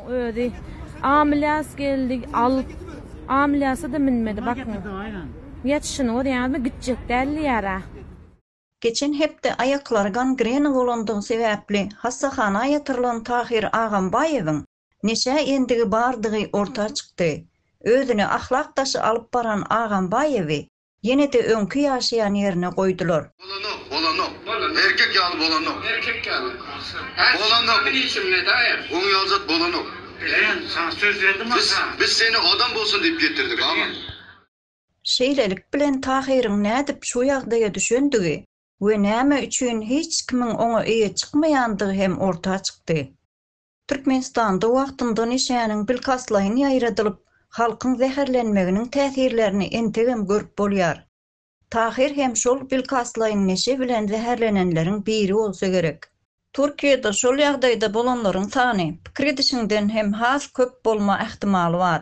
Özi amlyas geldi alyp amlyasa da minmedi bakın. Yetişini o yani gidecek derli yara. Geçen hepde aýaklary gangrena bolandygy sebäpli hassahana ýatyrylan Tahyr Agambaýewiň neşä endigi bardygy orta çykdy. Özüni ahlak daşy alyp baran Agambaýewi Ýene-de öňki ýaşaýan ýerine goýdular. Bolanok, bolanok. Bolanok. Erkek ýaly bolanok. Erkek ýaly. Bolanok. Sen niçin medaýa? Oň ýaly zat bolanok. Bilen, saňa söz berdim ata. Biz, biz seni adam bolsun diýip getirdik, agam. Şeýlelik bilen Tahyryň nädip şu ýagdaýa düşendigi we näme üçin hiç kimiň oňa eýe çykmaýandygy hem orta çykdy. Türkmenistanda wagtynda neşäniň bilkastlaýyn ýaýradylyp, halkyň zäherlenmeginiň täsirlerini entegem görüp bolýar. Tahyr hem şol bilkastlaýyn neşe bilen zäherlenenleriň biri bolsa gerek. Türkiýede şol ýagdaýda bolanlaryň sany pikir edişiňden hem has köp bolma ähtimaly bar.